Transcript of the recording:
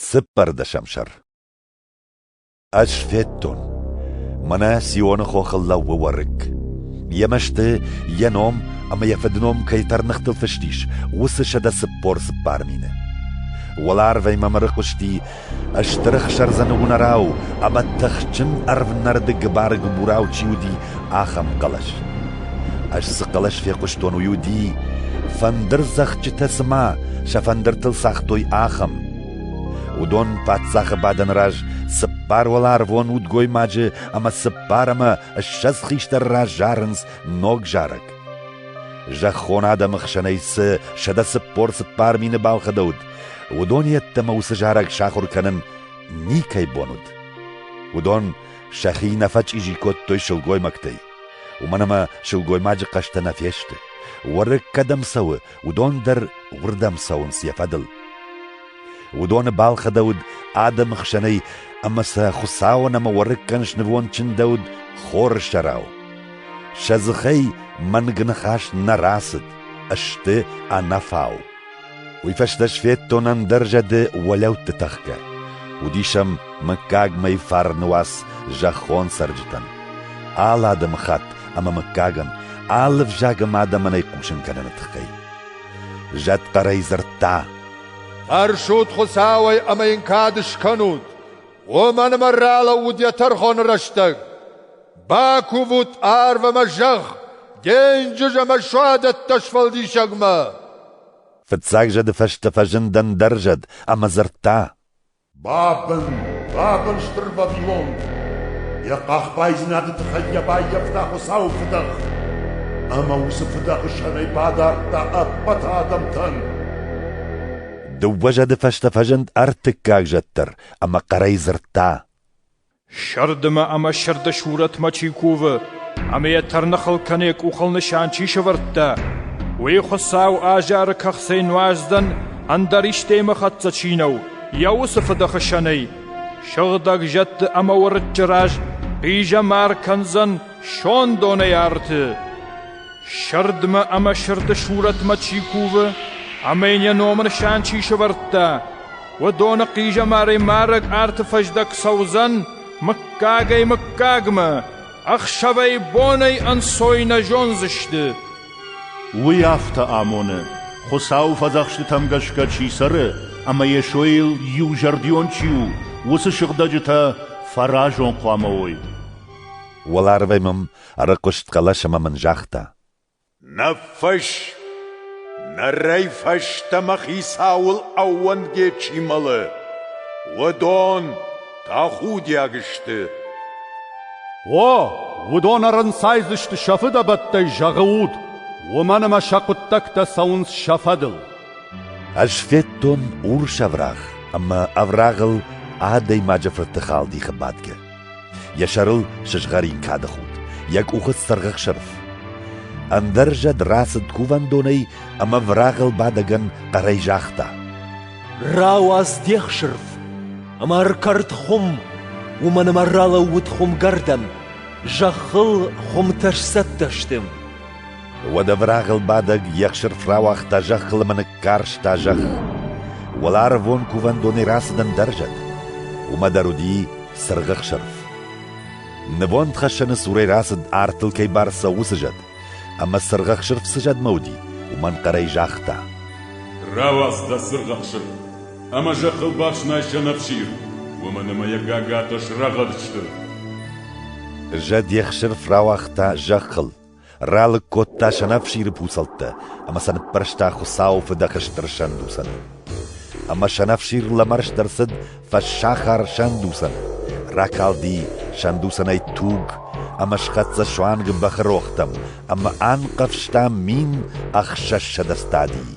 Цыппӕрдӕсӕм сӕр Ӕз федтон, мӕнӕ Сионы хохыл лӕууы уӕрыкк. Йӕ мӕсты, йӕ ном ӕмӕ йӕ фыдном кӕй тӕрныхтыл фыст ис, уыцы сӕдӕ цыппор цыппар мины. Уӕларвӕй мӕм ӕрыхъуысти стыр ӕхсӕрдзӕны уынӕрау ӕмӕ тыхджын ӕрвнӕрды гыбар-гыбурау чи уыди, ахӕм хъӕлӕс. Ӕз цы хъӕлӕс фехъуыстон, уый уыди, фӕндырдзӕгъдджытӕ цыма сӕ фӕндыртыл цагътой, ахӕм. Уыдон паддзахы бадӕны раз цыппар уӕларвон удгоймаджы ӕмӕ цыппар ӕмӕ ссӕдз хистӕр раз зарынц ног зарӕг. Зӕххон адӕмы хсӕнӕй цы сӕдӕ цыппор цыппар мины балхӕдӕуыд, уыдон йеддӕмӕ уыцы зарӕг сахуыр кӕнын никӕй бон уыд. Уыдон Сӕхи нӕ фӕчъизи кодтой сылгоймӕгтӕй. Уымӕн ӕмӕ сылгоймаджы хъӕстӕ нӕ фесты. Уӕрыкк кӕдӕм цӕуы, уыдон дӕр уырдӕм цӕуынц йӕ фӕдыл. Уыдоны балхӕдӕуыд адӕмы хсӕнӕй, ӕмӕ сӕ Хуыцауӕн ӕмӕ уӕрыккӕн снывонд чындӕуыд хоры сӕрау. Сӕ дзыхӕй мӕнг ныхас нӕ рацыд, сты ӕнӕфау. Уый фӕстӕ сфедтон ӕндӕр зӕды уӕлӕутты тӕхгӕ. Уыдис ӕм мыггагмӕ фарны уац зӕххон цӕрджытӕн. Алы адӕмыхатт ӕмӕ мыггагӕн, алы взагым адӕмӕн ӕй хъусын кӕныны тыххӕй. Зӕд хъӕрӕй дзырдта: «Фӕрсут Хуыцауӕй ӕмӕ йын кад скӕнут, уымӕн ӕмӕ ралӕууыд йӕ тӕрхоны рӕстӕг». Бакувут арв ӕмӕ зӕхх денджыз ӕмӕ суадӕттӕ сфӕлдисӕгмӕ. Фыццаг зӕды фӕстӕ фӕзындӕн дӕр зӕд ӕмӕ дзырдта. Бабын, бабын, стыр Вавилон! Йӕ къахбайдзинады тыххӕй йӕ баййӕфта Хуыцауы фыдӕх, ӕмӕ уыцы фыдӕхы сӕрӕй бадардта ӕппӕт адӕмтӕн. Дыууӕ зӕды фӕстӕ фӕзынд ӕртыккаг зӕд дӕр ӕмӕ хъӕрӕй дзырдта. Сӕрдымӕ ӕмӕ сӕрды сурӕтмӕ чи кувы ӕмӕ йӕ тӕрныхыл кӕнӕ къухыл нысан чи сӕвӕрдта, уый Хуыцау азары кӕхцӕй нуӕздӕн ӕндӕр истӕймӕхӕццӕ чи нӕу, йӕ уыцы фыдӕхсӕнӕй сыгъдӕг зӕдты ӕмӕ уырыччы раз хъизӕмар кӕндзӕн сондонӕй арты. Сӕрдымӕ ӕмӕ сӕрды сурӕтмӕ чи кувы ӕмӕ йын йӕ ном нысан чи сӕвӕрдта, Уыдоны хъизӕмарӕй марӕг арты фӕздӕг цӕудзӕн мыггагӕй-мыггагмӕ, ӕхсӕвӕй-бонӕй ӕнцой нӕ зондзысты. Уый афтӕ амоны, Хуыцауы фӕдзӕхстытӕм гӕсгӕ чи цӕры ӕмӕ Йесойыл иузӕрдион чи у, уыцы сыгъдӕджытӕ фӕразон хъуамӕ уой. Уӕларвӕй мӕм ӕрыхъуыст хъӕлӕс ӕмӕ мын загъта: Ныффысс, нырӕй фӕстӕмӕ хицауыл ӕууӕндгӕ чи мӕлы, уыдон тӕхудиаг сты. О, уыдон ӕрӕнцайдзысты сӕ фыдӕбӕттӕй зӕгъы уд, уымӕн ӕмӕ сӕ хъуыддӕгтӕ цӕуынц сӕ фӕдыл. Ӕз федтон урс ӕвраг ӕмӕ ӕврагыл адӕймаджы фырты халдихы бадгӕ. Йӕ сӕрыл сызгъӕрин кады худ, йӕ къухы цыргъӕхсырф. Ӕндӕр зӕд рацыд кувӕндонӕй ӕмӕ врагыл бадӕгӕн хъӕрӕй загъта: «Рауадз де хсырф ӕмӕ ӕркӕрд хуым, уымӕн ӕмӕ ралӕууыд хуымгӕрдӕн, зӕххыл хуымтӕ сцӕттӕ сты». Уӕдӕ врагъыл бадӕг йе хсырф рауагъта зӕххыл ӕмӕ ныккарста зӕхх. Уӕларвон кувӕндонӕй рацыдӕн дӕр зӕд, уымӕ дӕр уыди цыргъы хсырф. Нывондхӕссӕны цурӕй рацыд артыл кӕй бар цӕуы уыцы зӕд, ӕмӕ цыргъы хсырф цы зӕдмӕ уыди, уымӕн хъӕрӕй загъта. Рауадз дӕ цыргъы хсырф, ӕмӕ зӕххыл бафснай сӕнӕфсир, уымӕн ӕмӕ йӕ гагатӕ срӕгъӕд сты. Зӕд йе хсырф рауагъта зӕххыл, ралыг кодта сӕнӕфсиры пуцӕлттӕ ӕмӕ сӕ ныппӕрста Хуыцауы фыдӕхы стыр сӕндуцӕн. Ӕмӕ сӕнӕфсир лӕмӕрст ӕрцыд фӕссахар сӕндуцӕн, ракалди сӕндуцӕнӕй туг ӕмӕ схӕццӕ суанг бӕхы рохтӕм ӕмӕ анхъӕвзта мин ӕхсӕзсӕдӕ стадийы.